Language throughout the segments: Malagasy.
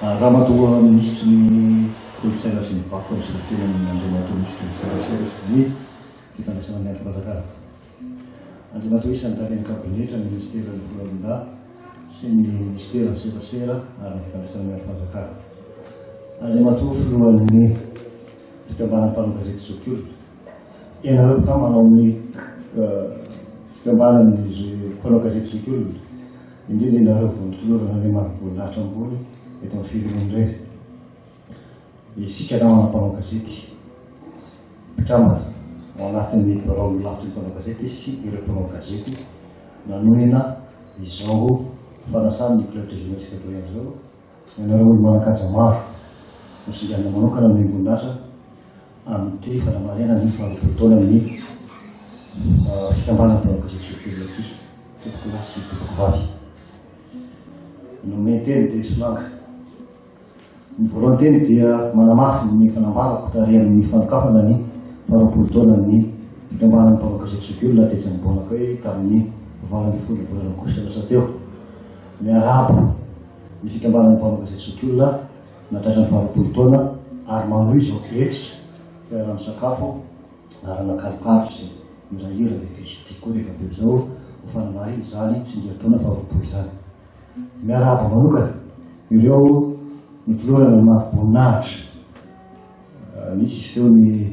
Ramatoa Minisitry ny Kolontsaina sy ny Vakoka misolo tena ny Andriamatoa Minisitry ny Serasera sy ny Fifandraisana Miadam-panjakana. Andriamatoa Isan'ny Talen'ny Kabinetra ny Minisiteran'ny Foloalindahy sy ny Minisiteran'ny Serasera ary ny Fifandraisana Miadam-panjakana. Andriamatoa Filohan'ny Fikambanan'ny Mpanao Gazety Zokiolona. Ianareo kah manao ny fikambanan'ny mpanao gazety zoky olona, indrindra ianareo vondron-tolorana ilay marim-boninahitra ambony eto amin'ny firenena irery. Isika namana mpanao gazety, mpikambana ao anatin'ny biraon'ny lafitry ny mpanao gazety sy ireo mpanao gazety nanohina izao fanasana ny club des journalistes Doyen izao, Ianareo olo-manan-kaja maro no singanina manokana ny orinasa amin'ity fanamariana ny faharoapolo taonan'ny fikambanana mpanao gazety Soa TV ity, tompoko lahy sy tompoko vavy. Ny nomeny teny dia solanga. Ny voalohany teny dia manamafy ny fanambarako tary amin'ny fanokafana ny faharoapolo taonan'ny fikambanana mpanao gazety zokiolona tetsy Ambohimanakay tamin'ny valo ambin'ny folo volana aogositra lasa teo. Miarahaba. ny fikambanan'ny mpanolotsa zokiolona na tratran'ny fahalotoan'ny taona ary manohy izao hetsika toerana misakafo arahana kalokalo sy mirahira ny kristy koa rehefa avy eo izao ho fanamarina izany tsingerin-taona faharoapolo izany miarahaba manokana ireo nitolorana ny mari-boninahitra nisy izy teo ny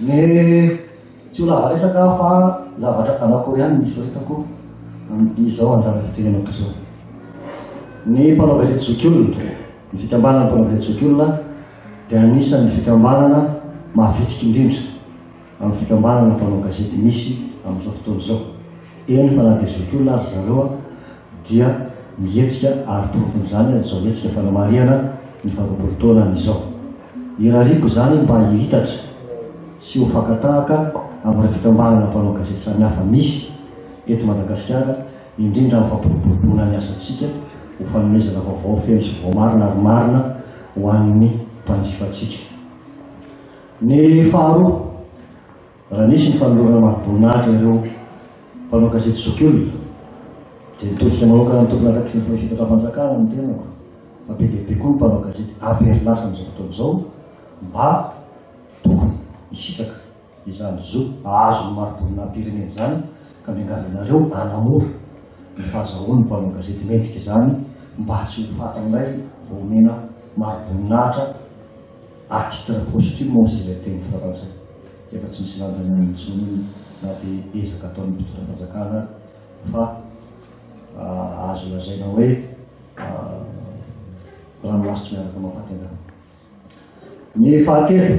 Le tsy ho lava resaka aho fa zavatra anankiroa ihany no hisoritako amin'izao anjara fitenenako izao. Ny mpanao gazety zokiolona, ny fikambanana mpanao gazety zokiolona dia anisan'ny fikambanana mavitrika indrindra amin'ny fikambanana mpanao gazety misy amin'izao fotoana izao, eny fa na dia zokiolona aza zareo dia mihetsika ary porofon'izany izao hetsika fanamarihana ny faharoapolo taonany izao. Irariako izany mba hihitatra sy ho fakan-tahaka amin'ireo fikambanana mpanao gazety samihafa misy eto Madagasikara, indrindra amin'ny fampiroboroboana ny asantsika ho fanomezana vaovao feno sy voamarina ary marina ho an'ny mpanjifantsika. Ny faharoa. Raha nisy ny fanolorana mahaboninahitra ireo mpanao gazety zokiolona dia nitodika manokana ny tompony araka ny fahefetram-panjakana ny tenako fa be dia be koa ny mpanao gazety apery lasa amin'izao fotoana izao mba tokony hisitraka izany zo hahazo ny mariboninahim-pirenena izany ka miangavianareo hanamora ny fahazahoan'ny mpanao gazety mendrika izany mba tsy ho faty indray vao omena mariboninahitra À titre posthume hozy ilay teny frantsay efa tsy misy lanjany aminy intsony na dia ezaka ataon'ny mpitondra fanjakana ary fa azo lazaina hoe ranomasotro miaraka mafaty angamba. Ny fahatelo.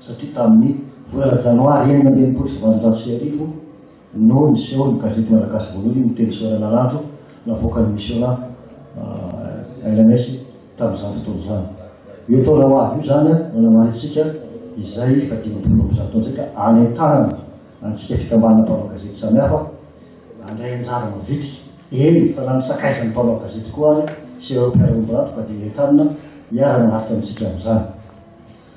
satria tamin'ny volana janoary enina amby enimpolo sy valonjato sy arivo no niseho ny gazety malagasy voalohany miteny soralanandro navoakan'ny Misionà lms tamin'izany fotoana izany. Io taona ho avy io izany no namarintsika izay fahadimampolo amby zato taona izay ka anentanana antsika fikambanana mpanao gazety samihafa handray anjara mavitrika, eny fa na ny sakaizan'ny mpanao gazety koa ary sy ireo mpiara-miombon'antoka dia entanina hiara-manaraka amintsika amin'izany.